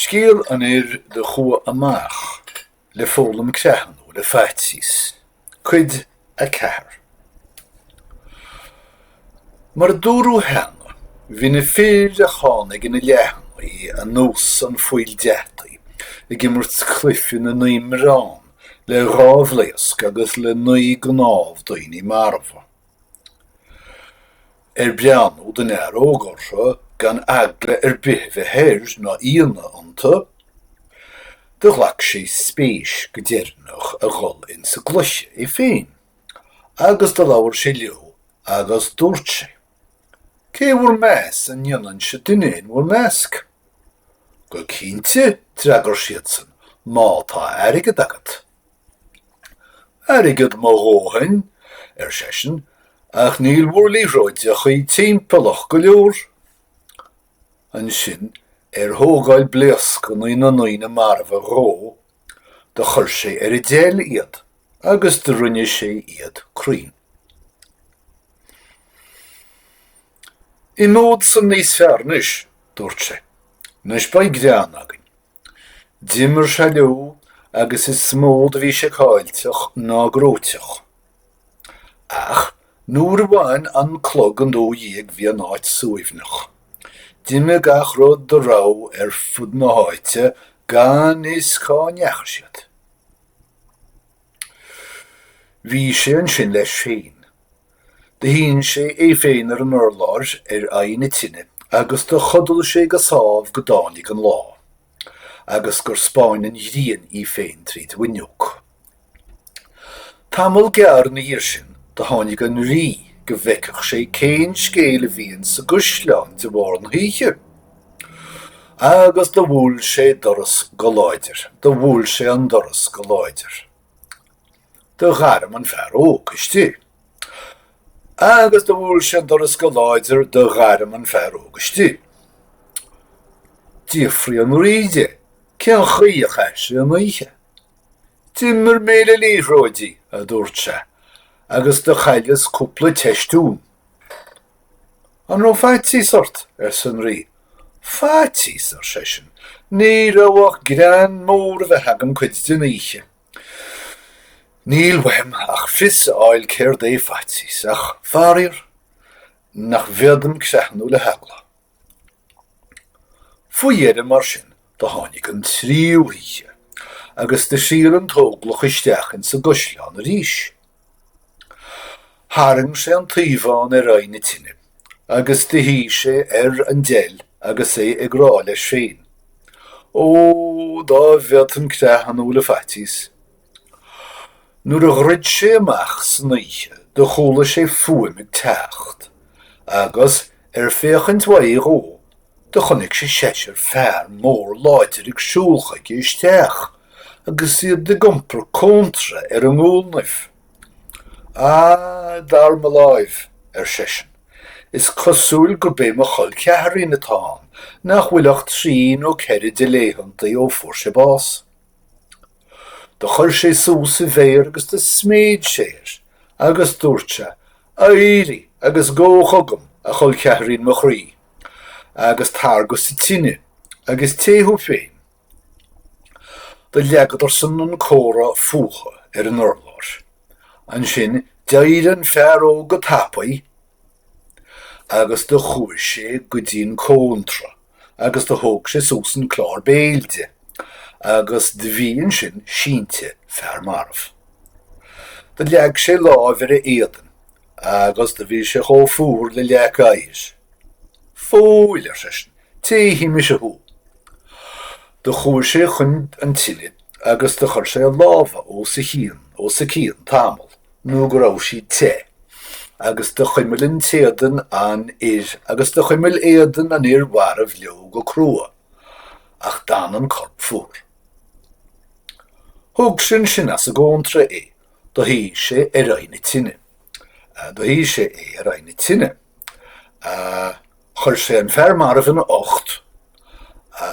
Scéal an fhir do chuaigh amach le foghlaim creathnú le faitíos, Cuid 4. Mar a dúradh cheana, bhí na fir a tháinig ina leathannaí anuas an phoill deataigh ag imirt cluiche na naoi mbiorán le dhá bhlaosc agus le naoi gcnámh daoine marbha. Ar breathnú don fhear óg orthu gan eagla ar bith a bheith air ná ionadh iontu? Do ghlac sé spéis go deireanach a dhul insa gcluiche é féin agus do labhair sé leo agus dúirt sé, Cé bhur meas an ndéanfainnse duine in bhur measc? Go cinnte, d'fhreagair siadsan, má tá airgead agat. Airgead mo dhóthain, ar seisean, ach níl bhur liathróideachaí timpeallach go leor. Ansin, ar thógáil blaoscannaí na ndaoine marbha dhó, do chuir sé ar an deil iad agus do rinne sé iad cruinn. Imeod san níos fearr anois, dúirt sé. Anois beidh greann againn. D'imir sé leo agus is mó do bhí sé caillteach ná gnóiteach. Ach nuair a bhain an clog an dó dhéag bhí an áit suaimhneach. D'imigh gach rud dá raibh ar fud na háite gan fhios cá ndeachaigh siad. Bhí sé ansin leis féin. Do shín sé é féin ar an urlár ar aghaidh na tine agus do chodail sé go sámh go dtáinig an lá agus gur spáin an ghrian í féin tríd an bhfuinneog. Tamall gearr ina dhiaidh sin do tháinig an rí go bhfeicfeadh sé cén scéal a bhí insa gcaisleán de bharr na hoíche agus do bhuail sé doras go láidir. Do bhuail sé an doras go láidir. do ghairm an fear óg istigh agus do bhuail sé an doras go láidir do ghairm an fear óg istigh. D'fhiafraigh an rí de cén chaoi a chaith sé an oíche. D'imir mé le liathróidí, a dúirt sé, agus do chailleas cúpla teistiún. An raibh faitíos ort? arsa an rí. Faitíos, ar seisean, ní raibh ach greann mór a bheith agam cuid den oíche. Níl uaim ach fios a fháil céard é faitíos, ach faraor nach bhféadaim creathnú le heagla. Faoi dheireadh mar sin do tháinig an tríú hoíche agus do thriall an t-óglach isteach insa gcaisleán arís. Tharraing sé an taobhán ar aghaidh na tine agus do shuigh sé ar an deil agus é ag rá leis féin, Ó, dá bhféadfainn creathnú le faitíos. Nuair a dhruid sé amach san oíche do chuala sé fuaim ag teacht agus, ar féachaint uaidh dó, do chonaic sé seisear fear mór láidir ag siúl chuige isteach. agus iad ag iompar cóntra ar a ngualnaibh. Ah, dar mo láimh, ar seisean, is cosúil gurb é mo chol ceathairín atá ann, nach bhfuil ach trí nó ceithre de laethantaí ó fuair sé bás. Do chuir sé suas a mhéar agus do sméid sé air, agus dúirt sé, Éirigh agus gabh chugam, a chol ceathairín mo chroí, agus tar go sa tine agus téigh thú féin Do leagadar-san an comhra fútha ar an urlár. Ansin d'éirigh an fear óg go tapaidh agus do chuaidh sé go dtí an cóntra agus do thóg sé suas an clár béil de agus do bhí ansin sínte fear marbh. Do leag sé lámh ar a éadan agus do bhí sé chomh fuar le leac aghais. Fóill! ar seisean. Téifidh mise thú. Do chuaigh sé chun an tine agus do chuir sé a lámha os a cionn os a cionn tamall nó go raibh siad te agus do chuimil an t-éadan an fhir agus do chuimil éadan an fhir mharbh leo go crua ach d'fhan an corp fuar. Thug sé ansin as an gcóntra é Do shuigh sé ar aghaidh na tine. Do shuigh sé é ar aghaidh na tine. Chuir sé an fear marbh ina ucht.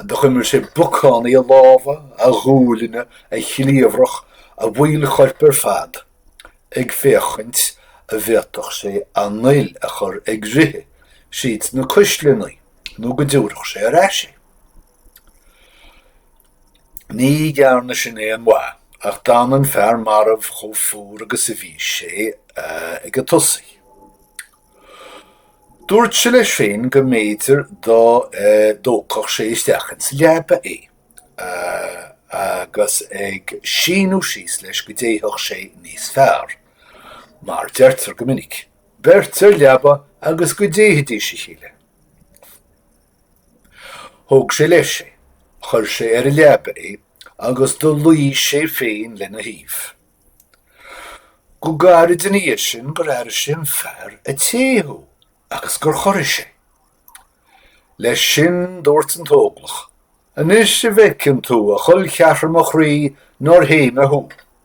Do chuimil sé bacánaí a lámha, a ghuaillní, a chliabhrach, a bhaill choirp ar fad, ag féachaint a' bhféadfadh sé an fhuil a chur ag rith thríd na cuisleannaí nó go dtiúrfadh sé ar ais é. Ní dhearna sin aon mhaith ach d'fhan an fear marbh chomh fuar agus a bhí sé ag an tosaí. Dúirt sé leis féin go mb'fhéidir dá dtógfadh sé isteach insa leaba é agus a shíneadh síos leis go dtéigheadh sé níos fearr. Mar deirtear go minic, beirt ar leaba agus go dtéighidís a chéile. Thóg sé leis é, chuir sé ar a leaba é agus do luí sé féin lena thaobh. Go gairid ina dhiaidh sin gur airigh sé an fear a' téamh agus gur chorraigh sé. Leis sin dúirt an t-óglach, Anois an bhfeiceann tú, a chol cheathar mo chroí, nár théigh mé thú.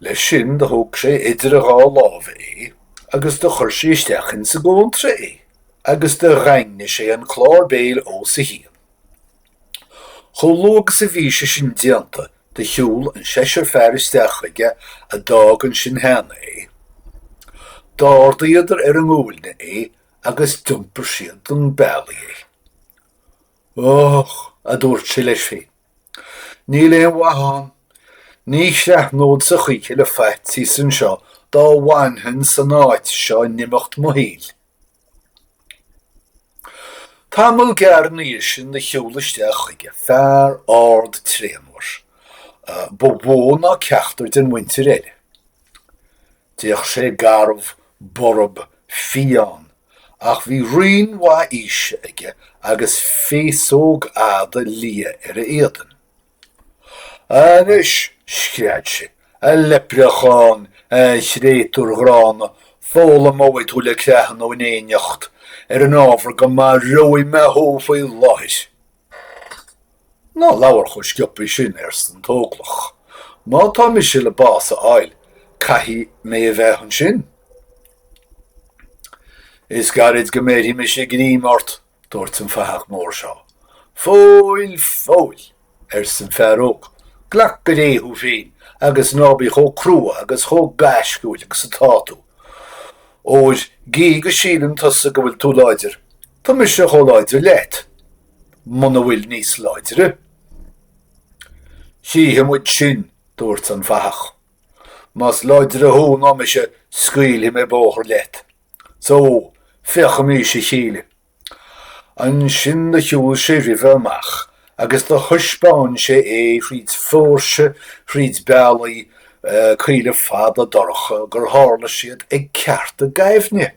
Leis sin do thóg sé idir a dhá lámha é agus do chuir sé isteach ins an gcóntra é agus do dhaingnigh sé an clár béil os a chionn. Chomh luath agus a bhí sé sin déanta do shiúl an seisear fear isteach chuige a d'fhág ansin cheana é. D'árdaíodar ar a nguailne é agus d'iompar siad chun bealaigh é. Och, aduairt sé leis féin. Níl aon mhaith ann. Ní chreathnódsa choíche le faitíos anseo dá bhfanfainn san áit seo in imeacht mo shaoil. Tamall gearr ina dhiaidh sin do shiúl isteach chuige fear ard tréanmhar, ba mhó ná ceachtar den mhuintir eile. D'fhéach sé garbh, borb, fiáin, ach bhí roinn mhaith aoise aige agus féasóg fhada liath ar a éadan. Anois! scread sé, a leipreacháin, a chréatúir ghránna, foghlaimeoidh tú le creathnú in éineacht, ar an ábhar go marbhóidh mé thú faoi láthair! Ná labhair chomh scioptha sin, arsa an t-óglach. Má tá mise le bás a fháil, caithfidh mé a bheith ansin. Is gairid go mbéarfaidh mise greim ort, dúirt an fathach mór seo. Fóill, fóill! arsa an fear óg. Glac go réidh thú féin agus ná bí chomh crua agus chomh gaisciúil agus atá tú, óir gidh go síleann tusa go bhfuil tú láidir, Tá mise chomh láidir leat, muna bhfuil níos láidre. Chífidh muid sin, dúirt an fathach. Más láidre thú ná mise scaoilfidh mé bóthar leat. So, féachaimís a chéile. Ansin do shiúl sé roimhe amach agus do thaispeáin sé é thríd phóirse thríd bealaí caola fada dorcha gur tharla siad ag ceárta gaibhne.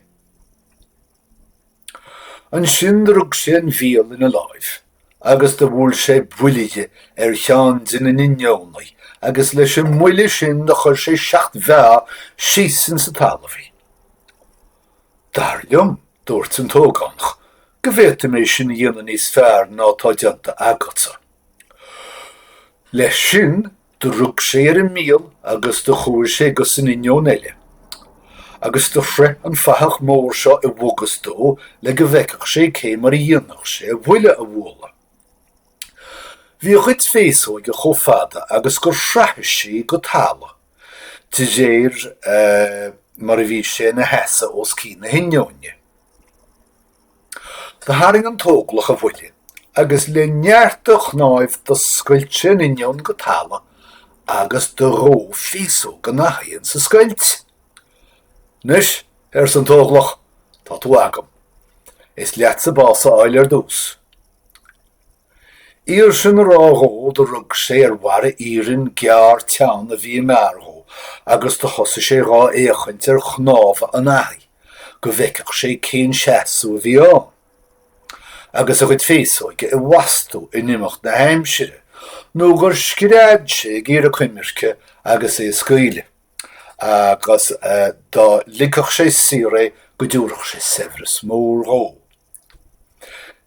Ansin do rug sé an bhiail ina láimh agus do bhuail sé buille dhi ar cheann de na n-inneonaí agus leis an mbuille sin do chuir sé seacht bhfeá síos ins an talamh í. Dar liom, dúirt an t-ógánach, go bhféadfaidh mé sin a dhéanamh níos fearr ná atá déanta agatsa. Leis sin, Do rug sé ar an mbiail agus do chuaidh sé gus an inneoin eile. Agus do shroich an fathach mór seo i bhfogus dó le go bhfeicfeadh sé cé mar a dhéanfadh sé a bhuille a bhualadh. Bhí a chuid féasóige chomh fada agus gur shroich sí go talamh de réir mar a bhí sé ina sheasamh os cionn na hinneoine. Tharraing an t-óglach a bhuille agus le neart a chnáimh do scoilt sé an inneoin go talamh agus do ghabh féasóg an fhathaigh insa scoilt. Anois, arsa an t-óglach, tá tú agam. Is leatsa bás a fháil ar dtús. Iar sin a rá dhó do rug sé ar bharra iarainn gearr teann a bhí i ngar dhó agus do thosaigh sé dhá fhéachaint ar chnámha an fhathaigh go bhfeicfeadh sé cén seasamh a bhí ann agus a chuid féasóige i bhfastú in imeacht na haimsire nó gur scread sé ag iarraidh coimirce agus é a scaoileadh agus dá ligfeadh sé saor é go dtabharfadh sé saibhreas mór dhó.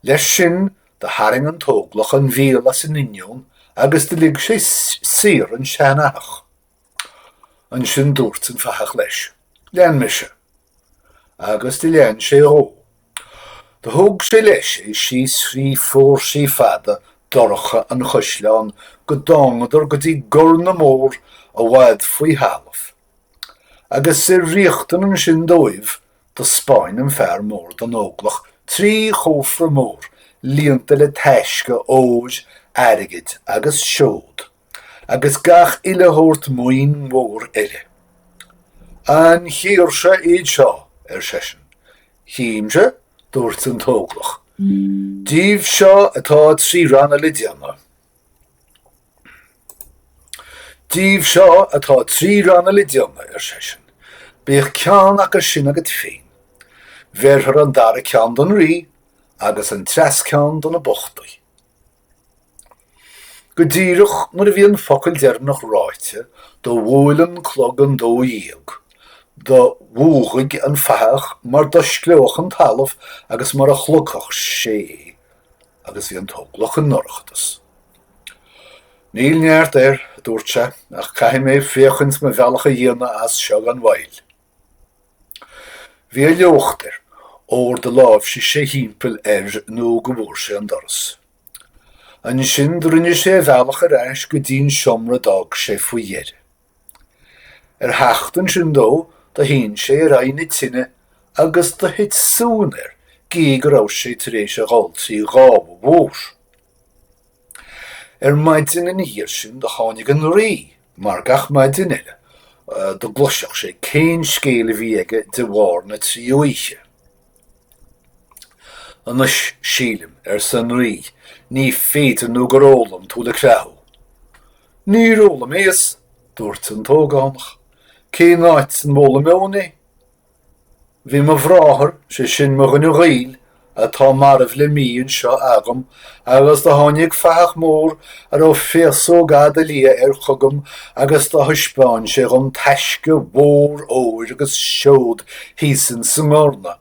Leis sin do tharraing an t-óglach an bhiail as an inneoin agus do lig sé saor an seanfhathach. Ansin dúirt an fathach leis, Lean mise. Agus do lean sé dhó. Do thóg sé leis é síos thrí phóirsí fada dorcha an choisleáin go dtángadar go dtí gorr na mór i bhfad faoi thalamh. Agus ar riachtain ansin dóibh Do spáin an fear mór don Óglach trí chófra mór líonta le taisce óir, airgid agus seoid, agus gach uile shórt maoin mhór eile. An chírse iad seo? ar seisean. Chímse, dúirt an tÓglach. Díobh seo atá trí ranna le déanamh. Díobh seo atá trí ranna le déanamh, ar seisean. Bíodh ceann acu sin agat féin. Bhéarfar an dara ceann don rí agus an treas ceann do na bochtaí. Go díreach nuair a bhí an focal deireanach ráite, do bhuail an clog an dó dhéag. Do mhúghaigh an fathach mar d'oscleódh an talamh agus mar a shlogfadh sé é, agus bhí an t-óglach i ndorchadas. Níl neart air, a dúirt sé, ach caithfidh mé féachaint mo bhealach a dhéanamh as seo gan mhoill. Bhí a shliocht air, óir do láimhsigh sé thimpeall air nó go bhfuair sé an doras. Ansin do rinne sé a bhealach ar ais go dtí'n seomra d'fhág sé faoi dheireadh. Ar theacht ansin dó do shín sé ar aghaidh na tine agus do thit suan air gí go raibh sé tar éis a dhul trí ghábha mhór. Ar maidin ina dhiaidh sin do tháinig an rí mar gach maidin eile go gcloisfeadh sé cén scéal a bhí aige de bharr na trí oíche. Anois sílim, arsa an Rí, ní féidir nó gur fhoghlaim tú le creathnú. Níor fhoghlaimíos, dúirt an t-ógánach, cén áit an bhfoghlaimeoinn é? Bhí mo bhráthair, sé sin mo dhuine gaoil, atá marbh le mí anseo agam Agus do tháinig fathach mór a raibh féasóg fhada liath air chugam agus do thaispeáin sé dhom taisce mhór óir agus seod thíos insa ndorna.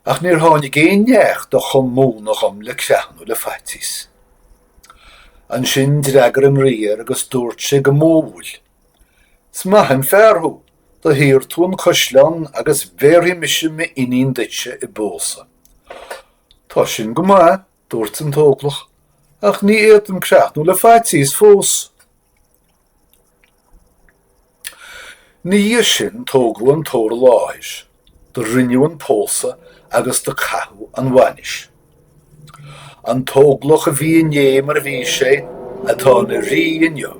Ach níor tháinig aon neach do chum múnadh dhom le creathnú le faitíos. Ansin d'fhreagair an rí air agus dúirt sé go modhúil, Is maith an fear thú. Do shaor tú an caisleán agus bhéarfaidh mise m'iníon duitse i bpósadh. Tá sin go maith, dúirt an t-óglach, ach ní fhéadaim creathnú le faitíos fós. Ina dhiaidh sin tógadh an t-ór i láthair Do rinneadh an pósadh agus do caitheadh an bhainis. An t-óglach a bhí inné mar a bhí sé, atá ina rí inniu.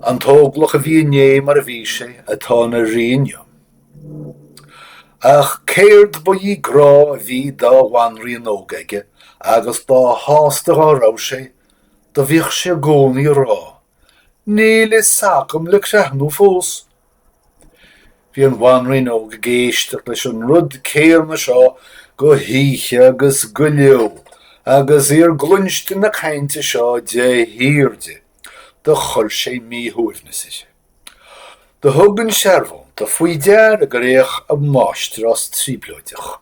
An t-óglach a bhí inné mar a bhí sé, atá ina rí inniu. Ach cér bith grá a bhí dá bhanríon óg aige, agus dá shásta dhá raibh sé, do bhíodh sé i gcónaí a rá Níl fhios agam le creathnú fós. Bhí an bhanríon óg ag éisteacht leis an rud céanna seo go hoíche agus go ló agus í ar gcloisint na cainte seo de shíor di. Do chuir sé míshuaimhneas uirthi. Do thug an searbhónta faoi deara gur fhéach a máistreás trioblóideach.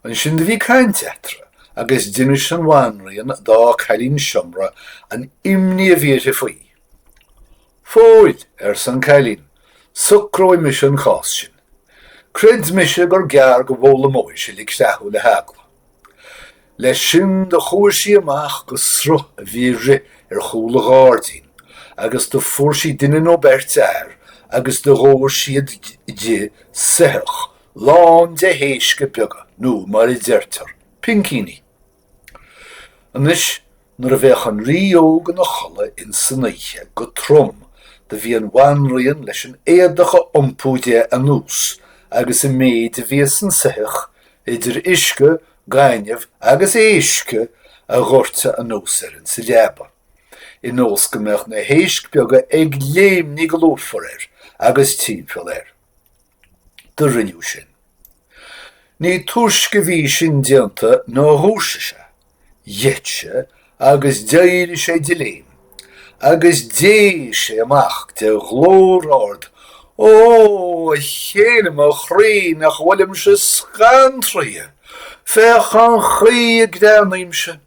Ansin do bhí caint eatarra agus d'inis an bhanríon dá cailín seomra an imní a bhí uirthi faoi. Fóill, arsa an cailín, socróidh mise an cás sin. Creid mise gur gearr go bhfoghlaimeoidh sé le creathnú le heagla. Leis sin do chuaigh sí amach go sruth a bhí ag rith ar chúl an ghairdín agus do fuair sí duine nó beirt fhear agus do dhóirt siad di soitheach lán de éisc beaga nó mar a deirtear, pincíní. Anois nuair a bheadh an rí óg ina chodladh ins an oíche go trom do bhí an bhanríon leis an éadach a iompú de anuas agus an méid a bhí sa soitheach idir uisce, gaineamh agus éisc a dhoirteadh anuas air insa leaba. Ionas go mbeadh na héisc beaga ag léimnigh go lúfar air agus timpeall air. do rinneadh sin. Ní túisce a bhí sin déanta ná dhúisigh sé, gheit sé agus d'éirigh sé de léim agus d'éigh sé amach de ghlór ard, Ó, a chéile mo chroí, nach bhfuilimse scantraithe! Féach an chaoi a gcreathnaímse!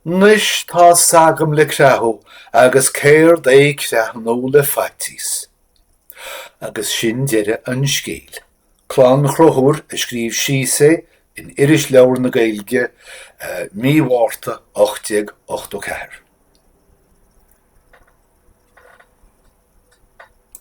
'Nois tá 's agam le creathadh agus céard é creathnú le faitchíos. Agus sin deireadh an scéil. Clann Chonchúir a scríobh síos é in Irisleabhar na Gaeilge, mí Mhárta 1884.